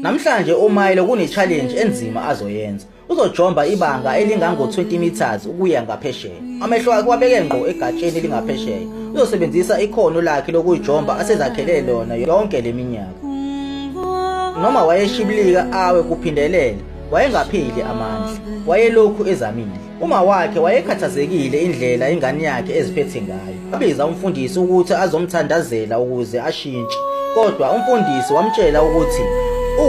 Namhlanje uMilo kune-challenge enzima azoyenza. Uzojomba ibanga elingango-20 meters ukuya ngaphesheya. Amehlo akhe wabeke ngqo egatsheni elingaphesheya. Uzosebenzisa ikhono lakhe lokuyijomba asezakhele lona yonke le minyaka. Noma wayeshibilika awe kuphindelela, wayengapheli amandla. Wayelokhu ezamile. Uma wakhe wayekhathazekile indlela ingane yakhe eziphethe ngayo. Wabiza umfundisi ukuthi azomthandazela ukuze ashintshe. Kodwa umfundisi wamtshela ukuthi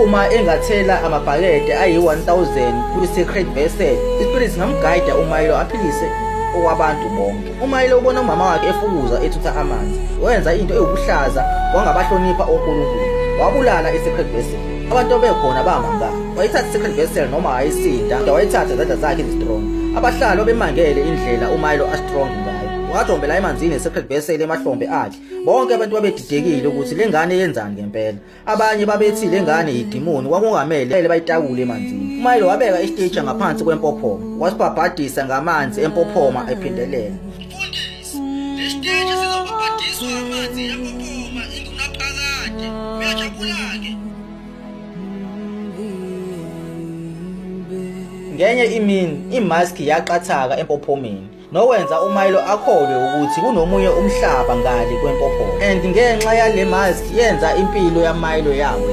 uma engathela amabhakede ayi-1000 kwi-secret vessel, ispirit singamgayida uMilo aphilise okwabantu bonke. UMilo ubona umama wakhe efukuza ethutha amanzi. Wenza into ewukuhlaza wangabahlonipha oNkulunkulu. Wabulala i-secret vessel. abantu obekhona bamanga wayithatha second vessel noma wayisinda kodwa wayithatha izandla zakhe ezistrong abahlali babemangele indlela umayilo astrong ngayo wajombela emanzini esecond vessel emahlombe akhe bonke abantu babedidekile ukuthi le ngane yenzani ngempela abanye babethi le ngane yidimoni kwakungamele bayitakule emanzini umayilo wabeka istage ngaphansi kwempophoma wasibhabhadisa ngamanzi empophoma ephindelela Lesiteshi sizobhabhadiswa amanzi empuphuma ingunaphakade. Uyajabula-ke. Ngenye imini imask yaqathaka empophomeni nokwenza uMilo akholwe ukuthi kunomunye umhlaba ngale kwempophomo and ngenxa yale mask yenza impilo yaMilo yawe